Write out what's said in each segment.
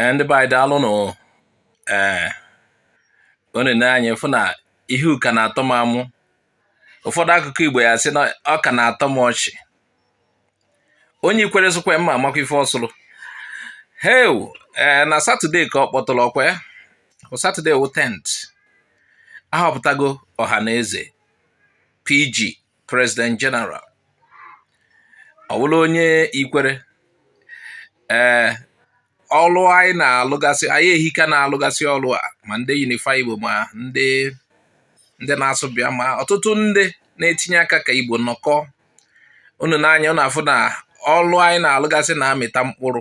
ee ndị be anyị daalụ nụ ee unu n'anya afụ na ihu ka na-atọ m amụ ụfọdụ akụkụ igbo ya sị na ọ ka na-atọ m ọchị onye ikwere sụkwa mma amakwa ife ọ sụrụ heu ee na satọde ka ọ kpọtụrụ ọkwa ya satọde wụ tent ahọpụtago ọhanaeze pg president general ọ bụrụ onye ikwere ee eh, ọlụ anyị na-alụgasị anyị ehika na-alụgasị ọlụ a ma ndị unify igbo ma ndị ndị na-asụ bịa ma ọtụtụ ndị na-etinye aka ka igbo nọkọ unu n'anya unu afụ na ọlụ anyị na-alụgasị na-amịta mkpụrụ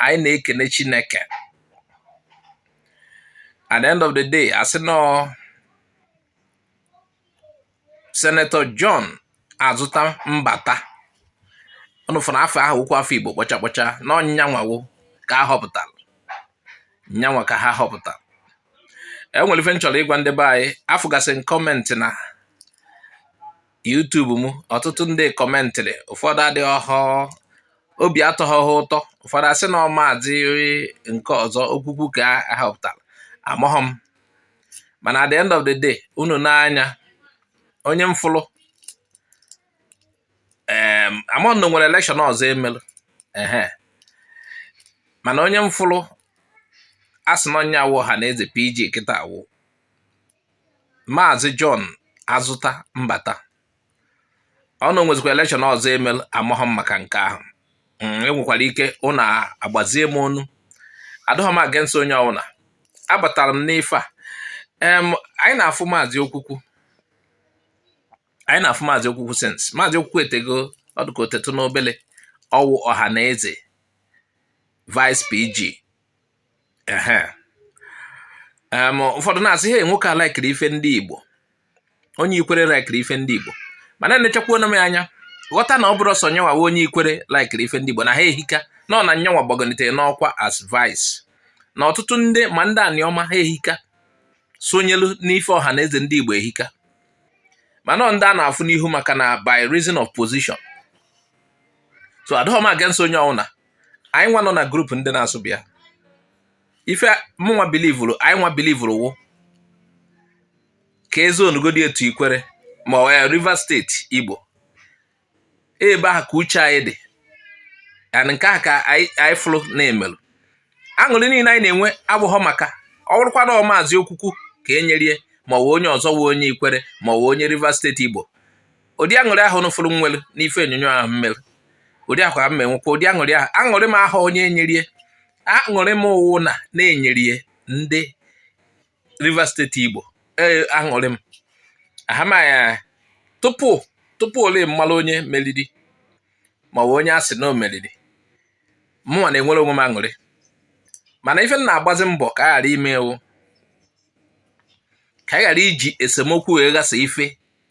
anyị na-ekene chineke at the end of the day a sị nọ senetọ John azụta mbata unu fụ na afa ahụ wụkwu afa Igbo kpọcha kpọcha na ọ nyanwa wo ka a họpụtara nyanwa ka ha họpụtara e nwere ife m chọrọ ịgwa ndị be anyị afụgasị m kọmentị na YouTube m ọtụtụ ndị kọmentịrị ụfọdụ adịghọ obi atọghọ ha ụtọ ụfọdụ asị na ọ maazị nke ọzọ okwukwu ka a họpụtara amaghọ m mana at the end of the day unu n'anya onye m fụlụ amaghọ m na e nwere elekshọn ọzọ e melụ ehe mana onye m fụlụ a sị na onye wụ ọhanaeze pg kịta wụ maazị john azụta mbata ọ na o nwezikwara elekshọn ọzọ e melụ amaghọ m maka nke ahụ mm, enwekwara ike unu agbazie m ọnụ adọghọ m against onye ọbụla abatara m n'ife a anyị na-afụ maazị okwukwu anyị na-afụ maazị okwukwu since maazị okwukwu etego ọ dịka o tetụ n'obele ọ wụ ọhanaeze vice pg ụfọdụ na-asị he nwoke a laikiri ife ndị Igbo onye ikwere laikiri ife ndị Igbo mana enechakwuona m anya ghọta na ọ bụrọ sọ nyanwa onye ikwere laikiri ife ndị Igbo na ha ehika nọ na nyanwa gbagonitere n'ọkwa as vice na ọtụtụ ndị ma ndị aniọma ha ehika sonyelu n'ife ọhanaeze ndị Igbo ehika mana ndị a na-afụ n'ihu maka na by reason of position so adọghọ m against onye ọwụna anyị nwa nọ na grupu ndị na-asụ bịa ife mụnwa bilivuru anyị nwa bilivuru wụ ka e zonugodie to ikwere ma ọ wụ Rivers steeti Igbo ebe ahụ ka uche anyị dị and nke ahụ ka anyị fụrụ na e melụ aṅụrị niile anyị na-enwe abụghọ maka ọ bụrụkwa na maazị okwukwu ka e nyerie ma ọ wụ onye ọzọ wụ onye ikwere ma ọ wụ onye Rivers steeti Igbo ụdị aṅụrị ahụ ụnụ fụrụ nwere n'ife onyonyo ahụ m mere ụdị ahụ ka m nwekwa ụdị aṅụrị ahụ aṅụrị m ahụ onye enyere ya aṅụrị m wụ na na enyere ya ndị Rivers State Igbo ee aṅụrị m ahamaya tupu tupu ole m malụ onye meriri ma ọ bụ onye a sị na o meriri mụnwa na-enwere onwe m aṅụrị mana ife m na-agbazi mbọ ka a ghara ime ewu ka a ghara iji esemokwu wee ghasa ife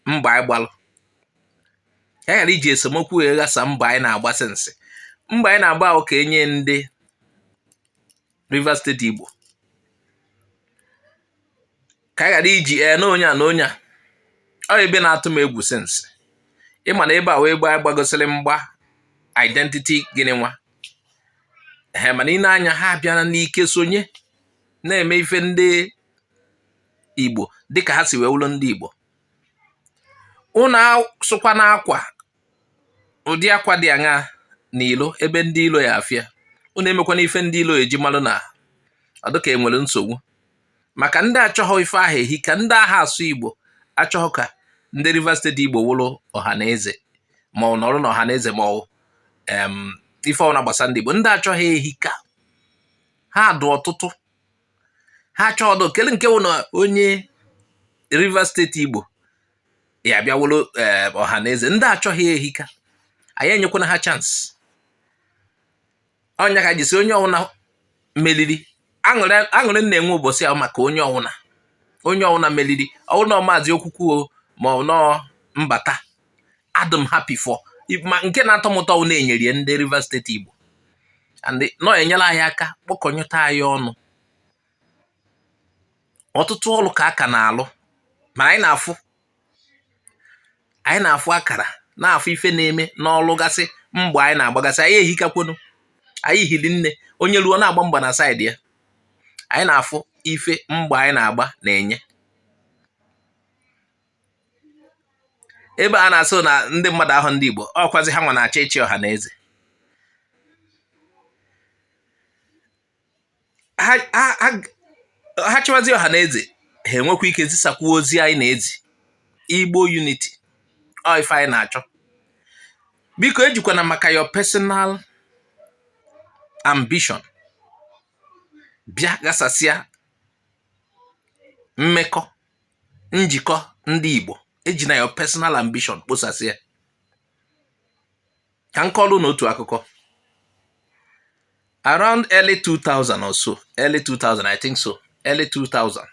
mgba anyị gbalụ ka anyị ghara iji esemokwu wee ghasa mgba anyị na-agba since mgba anyị na-agba wụ ka enye ndị Rivers State Igbo ka anyị ghara iji ee na onye a na onye a ọ ebe na-atụ m egwu since ị ma na ebe a wụ ebe gbagosiri mgba identity gịnị nwa ee mana i nee anya ha abịala n'ike sonye na-eme ife ndị Igbo dịka ha si wee wụrụ ndị Igbo ụnụ asụkwana akwa ụdị akwa dị aṅa na ilo ebe ndị ilo ya afụ ya ụnụ emekwana ife ndị ilo eji malụ na ọ dịka enwere nsogbu maka ndị achọghọ ife ahụ ehika ndị aha asụ Igbo achọghọ ka ndị Rivers State Igbo wụrụ Ọhanaeze ma ọ nọrọ na Ọhanaeze ma ọ ife ọwụna gbasa ndị Igbo ndị achọghị ehika ha dụ ọtụtụ ha chọọ ọdụ kele nke wụ na onye Rivers State Igbo ya bịa wụlụ eh, Ọhanaeze ndị achọghị ehika anyị enyekwana ha chance ọ nya ka m ji sị onye ọwụna meliri aṅụrị m na-enwe ụbọchị ahụ maka onye ọwụna onye ọwụna meliri ọ wụ na ọ maazị Okwukwu ma ọ na ọ Mbata adụ m happy for ma nke na-atọ m ụtọ wụ na enyere ya ndị Rivers State Igbo and na ọ enyela anyị aka kpọkọnyụta anyị ọnụ ọtụtụ ọrụ ka a ka na-alụ ma anyị na-afụ anyị na-afụ akara na-afụ ife na-eme n'ọlụ gasị mgba anyị na-agbagasị anyị ehikakwonu anyị hiri nne onye ruo na-agba mgba na side ya anyị na-afụ ife mgba anyị na-agba na-enye ebe a na-asị na ndị mmadụ ahụ ndị Igbo ọkwazi ha nwa na-achọ ịchị Ọhanaeze ha chịwazi Ọhanaeze ha enwekwa ike zisakwuo ozi anyị na-ezi Igbo unity ọ ife anyị na-achọ biko ejikwana maka your personal ambition bịa ghasasịa mmekọ njikọ ndị Igbo ejina your personal ambition kposasịa ka m kọọlụ unu otu akụkọ around early 2000 or so early 2000 I think so early 2000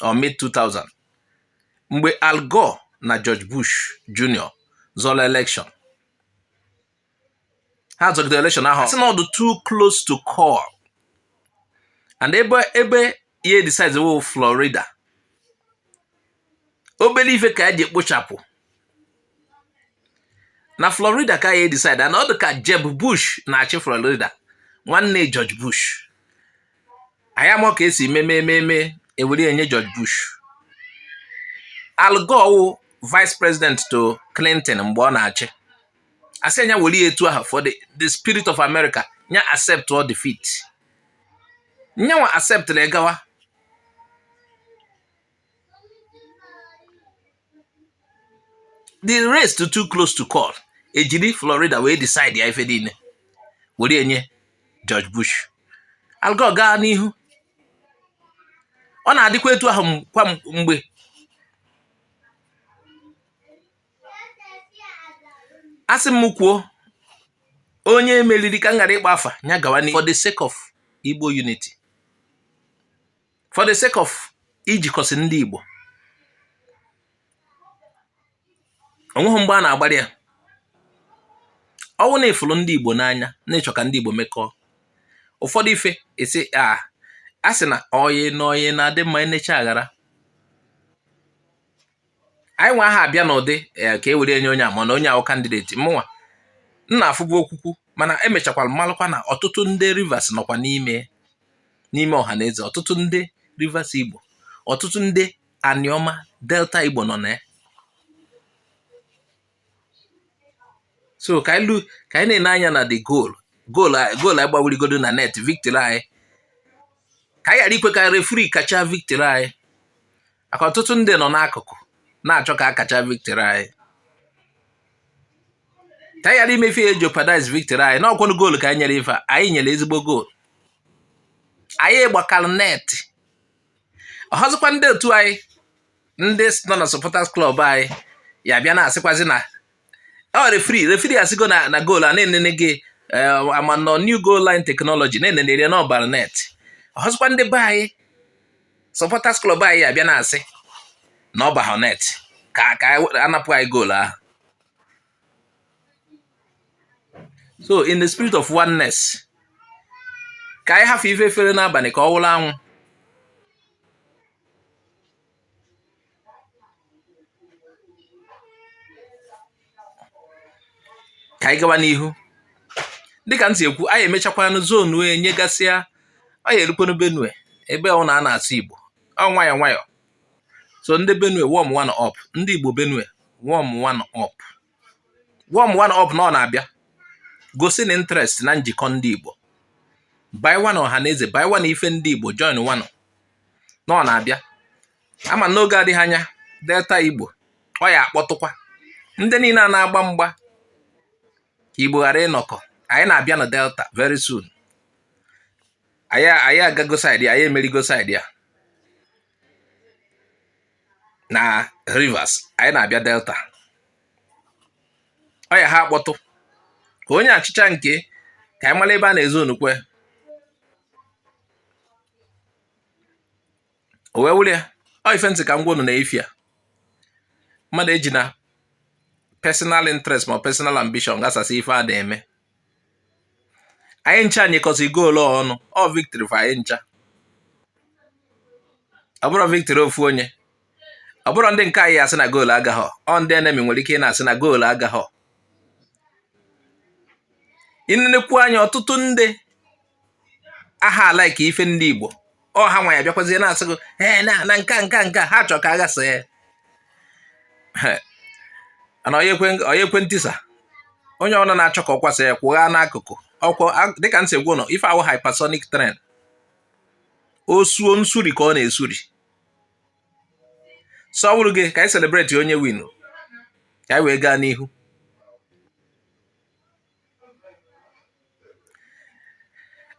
or mid 2000 mgbe Al Gore na George Bush Jr. zọrọ election ha zọgidere election ahụ sị na ọ dị too close to call and ebe ebe ya decide wụ Florida obere ife ka eji ekpochapụ na Florida ka ya decide na ọ dị ka Jeb Bush na-achị Florida nwanne George Bush anyị ama ka esi mee mee mee ewere enye George Bush Al Gore wụ vice president to Clinton mgbe ọ na-achị a sị nya were ya etu ahụ for the, the spirit of America nya accept defeat nyanwa accept gawa the race too too close to call ejiri Florida wee decide ya ife niile were enye George Bush Al Gore gaa n'ihu ọ na-adịkwa etu ahụ kwa mgbe asị m kwuo onye e meriri ka m ghara ịkpa afa ya gawa n'ihu for the sake of Igbo unity for the sake of ijikọsị ndị Igbo onweghị mgbe a na-agbara ya ọ wụ na ị fụrụ ndị Igbo n'anya na ị chọ ka ndị Igbo mekọọ ụfọdụ ife esi asị na ọyị na ọyị na-adị mma enechaa aghara anyị nwa aha abịa n'ụdị eh, ka e were enye onye a mana onye ahụ candidate mụnwa na-afụ bụ Okwukwu mana emechakwara m malụkwa na ọtụtụ ndị Rivers nọkwa n'ime n'ime Ọhanaeze ọtụtụ ndị Rivers Igbo ọtụtụ ndị Anioma Delta Igbo nọ na ya so ka anyị ka anyị na-ene anya na the goal goal goal anyị gbawurigodu na net victory anyị ka anyị ghara ikwe ka referee kacha victory anyị maka ọtụtụ ndị nọ n'akụkụ na-achọ ka a kacha victory anyị ka anyị ghara ime ife ya jeopardize victory anyị na ọ kwanụ goal ka anyị nyere ife anyị nyere ezigbo goal anyị gbakara net ọọzikwa ndị otu anyị ndị nọ na supporters club anyị ya bịa na-asịkwazi na ọ oh, referee referee asịgo na na goal a na e nenego eh, ama nọ new goal line technology na e nenere ya na ọ bara net ọọzikwa ndị be anyị supporters club anyị ya bịa na-asị na ọ bahụ net ka ka anapụ anyị goal ahụ so in the spirit of oneness ka anyị hafụ ife fere n'abalị ka ọ wụrụ anwụ ka anyị gawa n'ihu dịka m si ekwu anyị emechakwanụ zonu e nyegasịa anyị erukwanụ benue ebe ahụ na a na-asụ igbo ọ nwayọ nwayọ so ndị benue warmwanụ up ndị igbo benue warmwanụ up warmwanụ up na ọ na-abịa gosi na interest na njikọ ndị Igbo banyewanụ Ọhanaeze banyewanụ ife ndị Igbo joinwanụ na ọ na-abịa ama n'oge adịghị anya delta Igbo anyị akpọtụkwa ndị niile a na-agba mgba ka Igbo ghara ịnọkọ anyị na-abịa na delta very soon anyị agago side anyị emerigo side ya na Rivers anyị na-abịa Delta ọ ya ha akpọtụ ka onye achịcha nke ka anyị mara ebe a na-ezo onukwe o wee wụrụ ya ọ ife m sị ka m gwa unu na efi a mmadụ ejina personal interest ma personal ambition ghasasị ife a na-eme anyị ncha nyekọsị goolu ọnụ ọ victory for anyị ncha ọ bụrọ victory ofu onye ọ bụrọ ndị nke anyị ya-asị na goolu agaghọ ọ ndị enemy nwere ike ịna-asị na goolu agaghọ i nenekwuo anya ọtụtụ ndị ahụ alike ife ndị Igbo ọ ha nwa ya bịakwazie na-asị gị ee na nka nka nka ha chọrọ ka a ghasa ya na onye ekwe ntisa onye ọbụla na-achọ ka ọ kwasa ya kwụgha n'akụkụ ọkwọ dịka m si gwa unu ọ ife a wụ hypersonic train o suo nsuri ka ọ na-esuri so ọ bụrụ gị ka anyị celebrate onye win ka anyị wee gaa n'ihu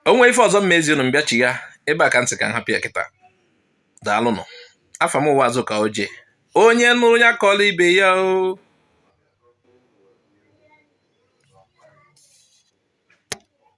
o nwee ife ọzọ m ma ezi unu m bịachịa ebe a ka m sị ka m hapụ ya kịta daalụnụ afa m wụ Azụka Oje onye nụrụ ya kọọla ibe ya o